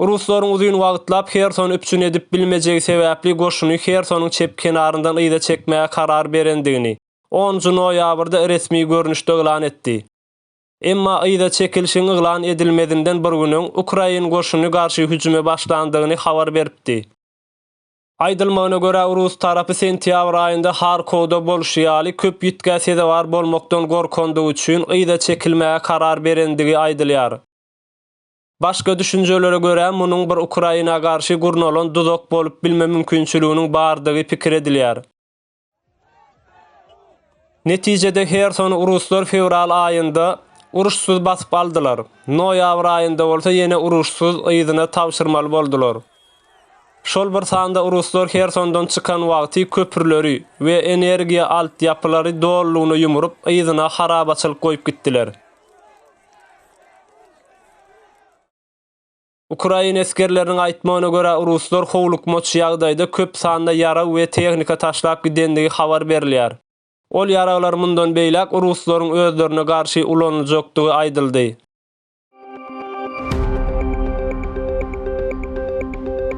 Ruslaryň uzyn wagtlap Hersony üpjün edip bilmejegi sebäpli goşuny Hersonyň çep kenaryndan yza çekmäge karar berendigini onunjy noýabrda resmi görnüşde yglan etdi. Emma yza çekilişiň yglan edilmezinden bir gün öň ukrain goşuny garşy hüjüme başlandygyny habar beripdi. Aýdylmagyna görä, rus tarapy sentýabr aýynda Harkowda bolşy ýaly, köp ýitgä sezewar bolmakdan gorkandygy üçin yza çekilmäge karar berendigi aýdylýar. Başga düşünjelere görä, munuň bir Ukraina garşy gurnalan duzak bolup bilme mümkinçiliginiň bardygy pikir edilýär. Netijede Hersony ruslar fewral aýynda uruşsyz basyp aldylar, noýabr aýynda bolsa ýene uruşsyz yzyna tabşyrmaly boldular. Şol bir sanda ruslar Hersondan çykan wagty köprüleri we energiýa alt ýapylary dolulygyna ýumrup yzyna harabaçylyk goýup gitdiler. Ukrain esgerleriniň aýtmagyna görä, ruslar howlukmaç ýagdaýda köp sanda ýarag we tehnika taşlap gidendigi habar berilýär. Ol ýaraglar mundan beýläk ruslaryň özlerine garşy ulanyljakdygy aýdyldy.